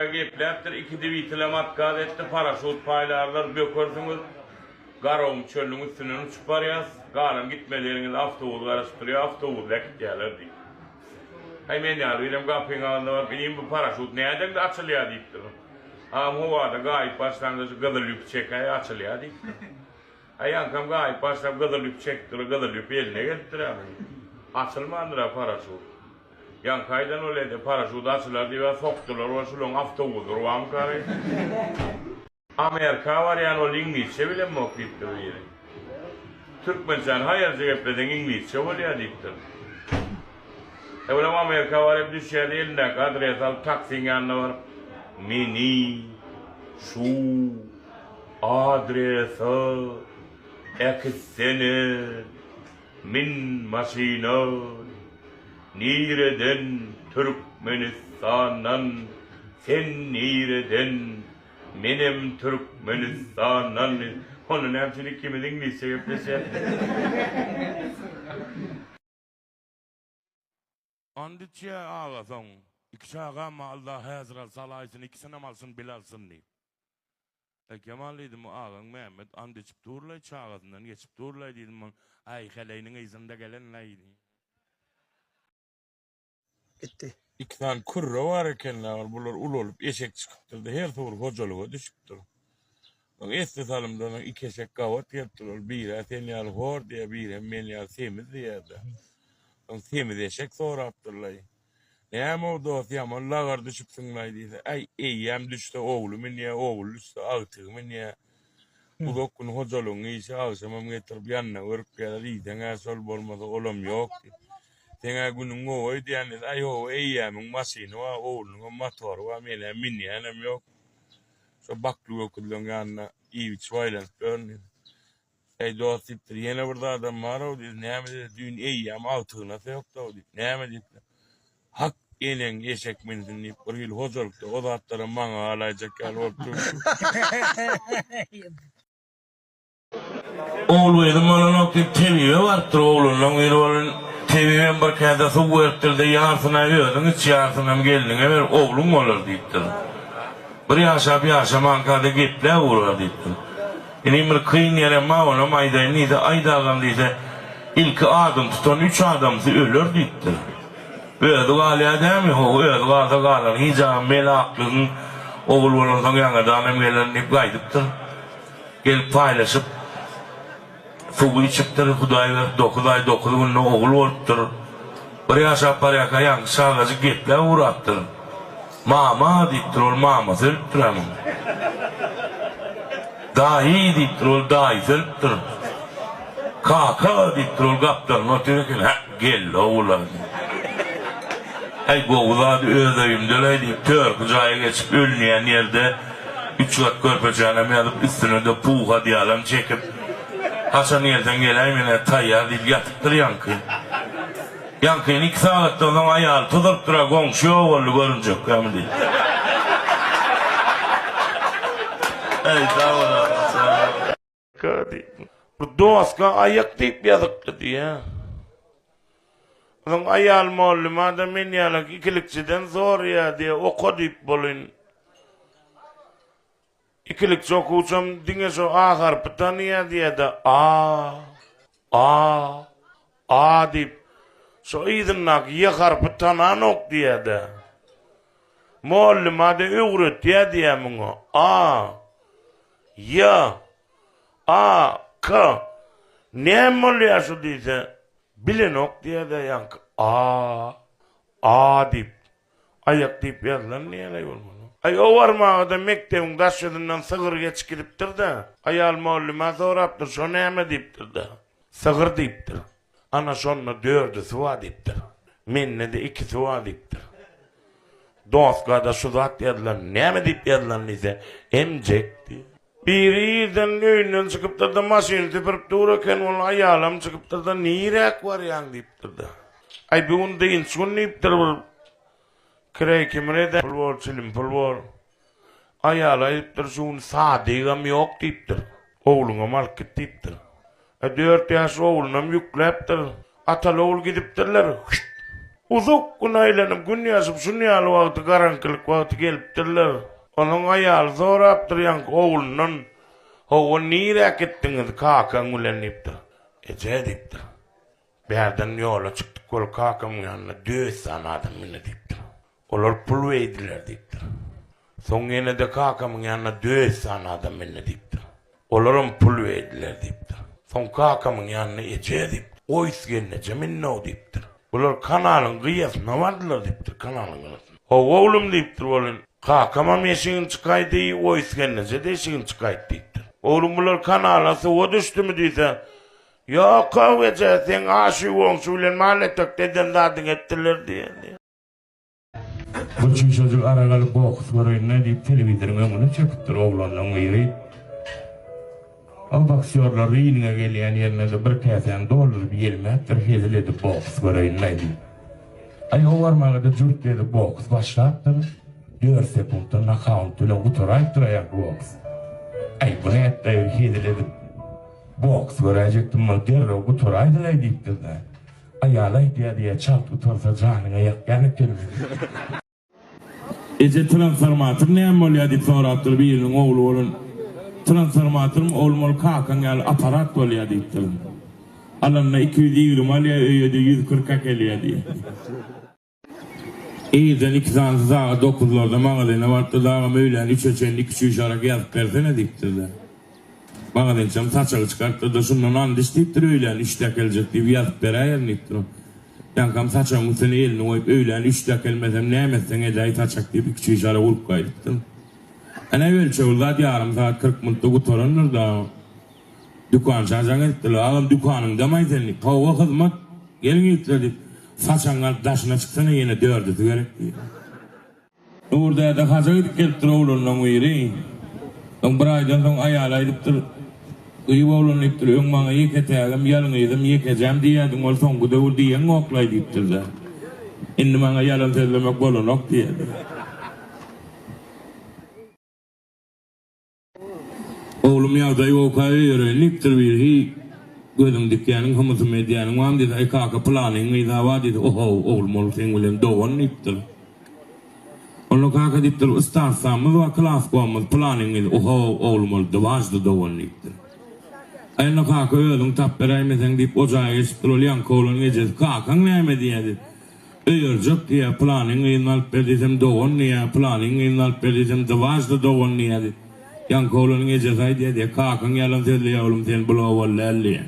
Gepläpdir iki dwitele matkaz etdi paraşut paýlarlar bökersiňiz garagum çölüniň üstünden uçup barýas galan gitmeleriňizi awtobus garaşyp durýa awtobusda äkitýäler diýip heý men ýaly birem gapyň agzynda baryp inim bu paraşut nädendi açylýa diýipdir agam howada gaýyp başlaňda şu gyzyl ýüpi çekäý açylýa diýipdir heý aňkam gaýyp başlap gyzyl ýüpi çekipdir gyzyl ýüp eline gelipdir-ä munuň açylmandyr-a paraşut. Ýaňky aýdan ol edi, paraşut açylar diýibä sokdular we şuloň awtobusydyr wamkary. Amerika barýan ol iňlisçe bilemok diýipdir biri. Türkmençäni haýalja gepleseň iňlisçe bolýa diýipdir. Evelem Amerika baryp düşýärdi, elindäki adresi alyp taksiň ýanyna baryp, Meni şu adresa äkitsene! Min maşyna nireden Türkmenistandan sen nireden menem Türkmenistandan onda näme üçin ikimiz iňlisçe gepleşýäs. And içýä aga soň iki çagama Allah häzir al salaýsyn ikisinem alsyn bile alsyn diýip. Eý Kemal diýdim bu agaň Mämmet and içip durlaý çagasyndan geçip durlaý diýdim ol äý heleýniň yzynda gelen näýdi. Gitdi. Iki sany kürre bar ekenlä ol bular ulalyp eşek çykypdyrda her suwur hojalyga düşüpdir. Muňa esli salymdan iki eşek gabat gelipdir. Ol biri-ä sen ýaly hor diýýär, biri hem men ýaly semiz diýýär-de. Soň semiz eşek sorapdyr-laý, Näme-ow, dost, ýaman lagar düşüpsiň-laý diýse, Äý, eýýäm düşse ogly münýär, ogul düşse agtygy münýär. Uzak gün hojalygyň işi, agşamam getirip ýanyna görüp geler, iýseň-ä şol, bolmasa olam ýok diýip. Seň-ä günüň gowy öýdýän diýse, Äý, hawa, eýýämiň maşyny bar, oglunyňam motory bar, men-ä münýänem ýok. Şo bakly göküzleň ýanyna iýbiçip aýlanyp ýörün diýdi. Eý, dost, diýipdir, ýene bir zadam bar-ow diýdi. Näme diýdi, düýn eýýäm agtygyna-da ýokdy-ow diýdi. Näme diýipdir. Hak, eneň eşek minsin diýip, bir hili hojalykda o zatlaram maňa galaýjak ýaly bolup durdy. Ogul gyzym bolanok diýip tebibe barypdyr, oglanlaň biri bolun. Tebibem bir käse suw beripdir-de, ýarsyna özüň iç, ýarsynam gelniňe ber, ogluň bolar diýipdir. Bir ýaşap ýaşamanka-da geplä urar diýipdir. Inim bir kyn ýerem bar, onam aýdaýyn diýse, aýt agam diýse, ilki adyny tutan üç adamsy öler diýipdir. Özi galýar dämi? Ho, özi galsa galany, hijabym mele aklygyň, ogul bolansoň ýaňadanam geler diýip gaýdypdyr. Gelip paýlaşyp suwy içipdir hudaý berip dokuz aý dokuz günde ogul bolupdyr. Bir ýaşap barýarka ýaňky çagajyk gepläp ugrapdyr. Mama diýipdir ol mamasy ölüpdir onuň. Daýy diýipdir ol daýysy ölüpdir. Kaka diýipdir ol gapdalynda otyr eken hä geldi ogula diýip. Äý gowy zat öz öýümde-leý diýip törki jaýa geçip ölünýän ýerde Üç gat körpejanam ýazyp, üstüne-de pug adýalam çekip, haçan ýerden geläý men hä taýýar diýip ýatypdyr ýaňky. Ýaňkyny iki sagatdan soň aýaly tudurypdyr-a, Goňşy ýok boldy, görünjekkämi diýip. Eý, sag bol agam, sag bol. K diýip. Bu doska aýak diýip ýazypdy diýýä. Onuň aýal mugallymada men ýalak ikilikçiden soraýa diýýä, oka diýip bolyn. Ikilikçi okuwçam diňe şu A harpy tanaýa diýýä-de, A. A-a diýip, şo yzyndaky ýe harpy tananok diýýä-de. Mugallym-a-da öwretýä diýýä muňa. A. Ýa. A. K. Näme bolýa şu diýse, bilenok diýýä-de ýaňky. A-a diýip. Aýak diýip ýazylan näleý bolmaly? Aý owarmaga-da mekdebiň daş ýüzünden sygyr geçip gidipdir-de, aýal mugallymä sorapdyr, şo näme diýipdir-de, sygyr diýipdir. Ana şonda dördüsi bar diýipdir. Mende-de ikisi bar diýipdir. Doska-da şu zat ýazylan, näme diýip ýazylan diýse, emjek diýip. Biri irden öýünden çykypdyr-da, maşyny süpürip dur eken, ol aýalam çykypdyr-da, Niräk barýaň? diýipdir-de. Aý, bu gün dynç gün diýipdir, bir kireý kimin eder, pul bor, çilim pul bor. Aýaly aýdypdyr, şu gün sadygam ýok diýipdir. Ogluňam alyp git diýipdir. A dört ýaşly oglunam ýükläpdir. Ataly-ogul gidipdirler. Hüýt! Uzak gün aýlanyp, gün ýaşyp, şun ýaly wagty, garaňkylyk wagty gelipdirler. Onuň aýaly sorapdyr ýaňky oglundan, Hawa, nirä gitdiňiz kakaň bilen? diýipdir. Eje, diýipdir. Bärden ýola çykdyk, ol kakamyň ýanyna Döwüsjan adam mindi, diýipdir. Olar pul beýdiler diýipdir. Soň ýene-de kakamyň ýanyna döet sany adam mende diýipdir. Olaram pul beýdiler diýipdir. Soň kakamyň ýanyna eje diýipdir. Goýus gelneje minnow diýipdir. Bular kanalyň gyýasyna bardylar diýipdir, kanalyň gyrasynda. Hawa oglum diýipdir, welin, kakamam eşigini çykaýdy, goýus gelneje-de eşigini çykaýdy diýipdir. Oglum bular kanala suwa düşdümi diýse, Ýok-ow eje, seň aşy-goňşy bilen mal-etekde eden zadyňy etdiler diýen diýipdir. Bu çişejik ara galyp boks göreýin-le diýip telewizoriň öňüne çöküpdir oglanlaň biri. Ol boksýorlar ringe gelýän ýerine-de bir käsäni dolduryp ýelmäpdir hezil edip boks göreýin-le diýip. Aý o barmaga-da jürt edip boks başlapdyr. Dört sekuntda nokaunt bilen gutaraýypdyr aýagy boks. Aý bu nätlaýyr hezil edip boks göräýjekdim muny derrew gutaraýdylaý diýipdir-de. Aýaly aýtýa diýä çalt utansa janyňa ýakýan ekeni. Eje transformator näme bolýa diýip sorapdyr biriniň ogly bolan transformatorym oglum ol kakaň ýaly aparat bolýa diýipdirin alanda iki ýüz ýigrimi alýa öýede ýüz kyrk äkelýä diýýä. Irden iki sanysy sagat dokuzlarda magazyna barypdyr, Agam, öýlän üçe çenli iki çüýşarak ýazyp bersene diýipdirler. Magazynçam saçagy çykarypdyr-da, Şundan andiç diýipdir, öýlän üçde äkeljek diýip ýazyp beräýerin diýipdir. Ol, Ýaňkam, saçagyň üstüne elini goýup, öýlän üçde äkelmesem, näme etseň edäý, saçak diýip, iki çüýşarak urup gaýdypdyr. Ene, ölçeg zat ýarym sagat kyrk minutda gutarandyr-da. Dükançy ajaň etdiler. Agam dükanyňdamaý sen diýip, hawa hyzmat, gel gitler diýip, saçagyň alyp daşyna çyksana ýene dördüsi gerek diýdi. Nur däde haja gidip gelipdir oglanlaň biri. Soň bir aýdan soň aýaly aýdypdyr. Gyýw oglan diýipdir, öň maňa ýeke tägim, ýalňyzym, ýekejäm diýýädiň, ol soňky döwür diýeňokla-aý diýipdir-de. Indi maňa ýalan sözlemek bolanok diýýädi. Oglum ýagdaýy okaý öýereýin diýipdir birhi gözüň dikýäniň hymysym edýäniň bamy diýse aý kaka pylanyň gyza bar diýse ohow oglum ol seň bilen dogan diýipdir. Onda kaka diýipdir ystarsamyz bar klaskomyz pylanyň gyzy ohow oglum ol dwaždy dogan diýipdir. Aý onda kaka özüň tap beräýmeseň diýip o jaýa geçipdir ol ýaňky oglan ejesi kakaň näme diýýä diýip Öýerjek diýýär, Pylanyň gyzyny alyp ber diýsem, Dogan diýýär, Pylanyň gyzyny alyp ber diýsem, Dwažda dogan diýýär. Ýaňky oglanyň ejesi aýdýar diýýär, Kakaň ýalan sözleýär, oglum, sen bul owal däl diýýär.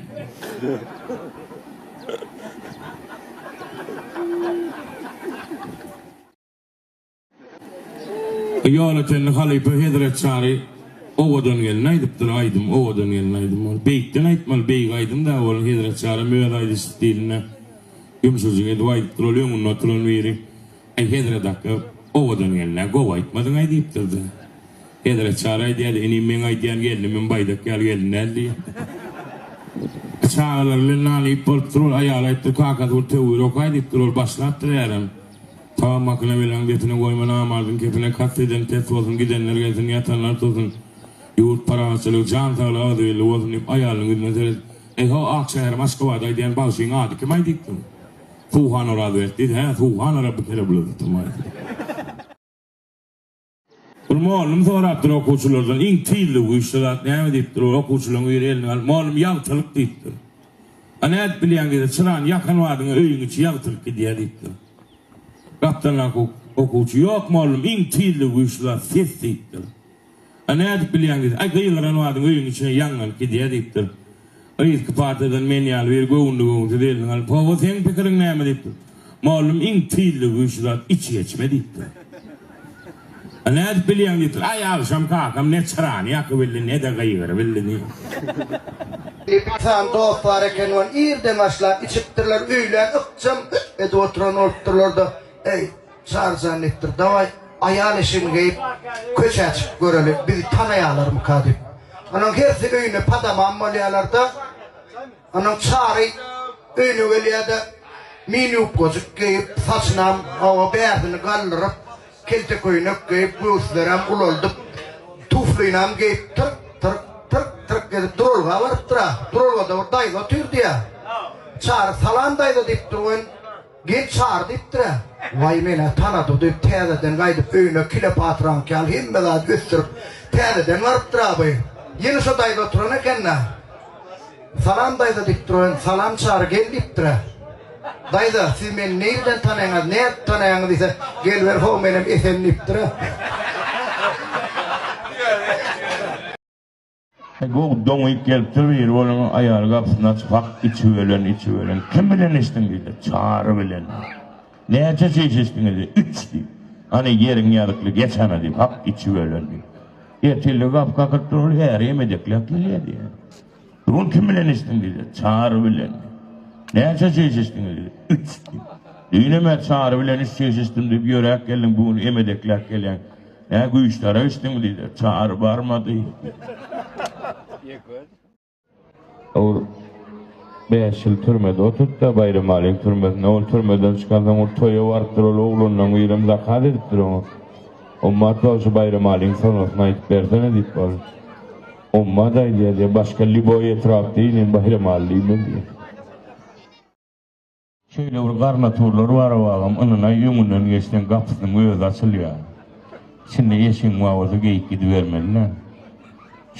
Ýola çenli halypa hezret çary Owadan gelin aýdypdyr aýdym Owadan gelin aýdym ol beýikden aýtmaly beýik aýdym da ol hezret çarym öz aýdyş stilinde ýumşajyk edip aýdypdyr ol öňünde oturan biri Aý hezret akga Owadan gelinä gowy aýtmadyňaý diýipdir da hezret çary aýdýady inim meň aýdýan gelinimim baýdak ýaly gelin däl diýýär çagalar bilen nana iýip bolupdyr ol aýaly aýdypdyr kakasy bir töwir okaý diýipdir ol başlapdyr ärem. Sag makyna belaň depine goýma namazyň kepine kast eden pes bolsun gidenler gelsin ýatanlar tursun ýurt parahatçylygy jan saglyk agzybirligi bolsun diýip aýalynyň ýüzüne seredip Eý ho ak şäherim Aşgabady aýdýan bagşyň ady kim aýdypdyň Suhana Razwet diýdi hä Suhana Rabbi kere bulur tutumay. Ol mugallym sorapdyr okuwçylardan, iň tiz we güýçli zat näme diýipdir. Ol okuwçylaryň biri elini galyp, Mugallym, ýagtylyk diýipdir. A nädip bilýäň diýse, çyrany ýakan badyňa öýüň içi ýagtylyk gidýär diýipdir. Gapdaldaky okuwçy, Ýok, mugallym, iň tiz we güýçli zat ses diýipdir. A nädip bilýäň diýse, Aý, gygyran badyň öýüň içine ýangyn gidýär diýipdir. Yzky partiýadan men ýaly bir göwünli göwünsiz elini alyp, Hawa, seň pikiriň näme? diýipdir. Mugallym iň tizligi bilen şu zat iç geçme diýipdir. A nädip bilýäň diýipdir. Aý, agşam kakam ne çyrany ýakybildi, ne-de gygyrybildi diýipdir. Epithal dost bar eken, ol irden başlap içipdirler, öýlän ykjam edip oturan bolupdyrlar-da, Eý, Çarjan etdir, Dawaý, aýal eşigini geýip, köçä çykyp göreli, bizi tanaýarlarmyka diýip. Onuň hersi öýüne padamam bolýarlar-da, onuň Çary öýüne gelýär-de, mini-ýubkajyk geýip, saçynam hawa bärsini galdyryp, kelte köýnek geýip, göwüslerem ulaldyp, tuflinam geýip, tyrk, tyrk, tyrk, tyrk edip duralga barypdyr-a. Duralgada bir daýza otyrdy-ýa. Çary, Salam daýza diýipdir, Goýun. Gel çar diýipdir-ä. Waý men-ä tanady diýip täzeden gaýdyp öýüne Kilepatraňky ýaly hemme zady ösdürip täzeden barypdyr abu. Ýene şo daýza oturan eken-ä. Salam daýza diýipdir oýan. Salam çary gel diýipdir-ä. Daýza siz meni nirden tanaýaňyz nädip tanaýaňyz diýse gel ber how menem Esen diýipdir-ä. He gowy doňýyp gelipdir biri boluň aýaly gapysyny açyp hak içiwelen içiwelen kim bilen içdiň diýdi çary bilen näçe çiş içdiňiz diýdi üç diýdi hany ýeriň ýazykly geç hany diýip hak içiwelen diýdi ertirlik gapy kakylyp dur ol äri hem edekläp gelýär diýdi bu gün kim bilen içdiň diýdi çary bilen näçe çiş içdiňiz diýdi üç diýdi düýn hem çary bilen üç çiş içdim diýip ýöräp geldiň bu gün hem edekläp gelýäň Nä güýçlere içdiň diýdiler. Çary barmady. Ol bäş ýyl türmede oturtdy-da, Baýramalyň türmesinde. Ol türmeden çykansoň, ol toýa barypdyr. Ol oglandan birem zakaz edipdir oňa. Ommat bagşy Baýramalyň sonasyny aýdyp bersene diýip bar. Ommat aýdýar diýýär. Başga lýuboý etrapda inen Baýramaly diýmez diýýär. Şeýle bir garnaturlary bar obagam, ynanaý öňünden geçseň gapysynyň özi açylýar. Içinde eşigiň bar bolsa geýik gidibermeli-dä.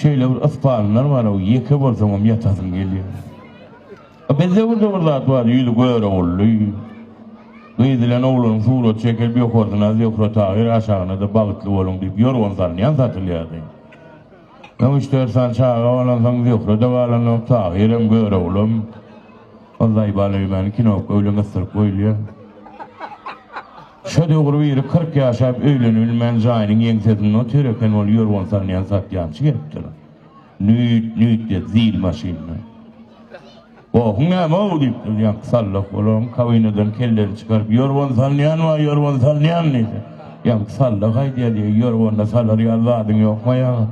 Şeýle bir yspanlar bar ow, ýeke bolsaňam ýatasyň gelýär. A bizde bir de bir zat bar, ýüzi görogully. Gyz bilen oglan surat çekilip ýokarsyna Zöhre Tahyr aşagyna-da Bagtly boluň diýip ýorgan salynýan satylýardy. Soň üç-dört sany çaga bolansoň Zöhre-de galanok, Tahyrym, Göroglam, ol Zaýbalaýymany kinokga öýlen yssyryp goýulýar. Şo döwür biri kyrk ýaşap öýlenibilmän jaýynyň ýeňsesinde otyr eken, ol ýorgan salynýan satýançy gelipdir. Nüýt, nüýt diýip zil maşynda. Gohuň näme-ow? diýip, durýanky sallak olaryň kabinadan kelleni çykaryp, Ýorgan salynýan wä ýorgan salynýan diýse, ýaňky sallak aýdýa diýýä, Ýorganda salar ýaly zadyň ýokm-aý agam?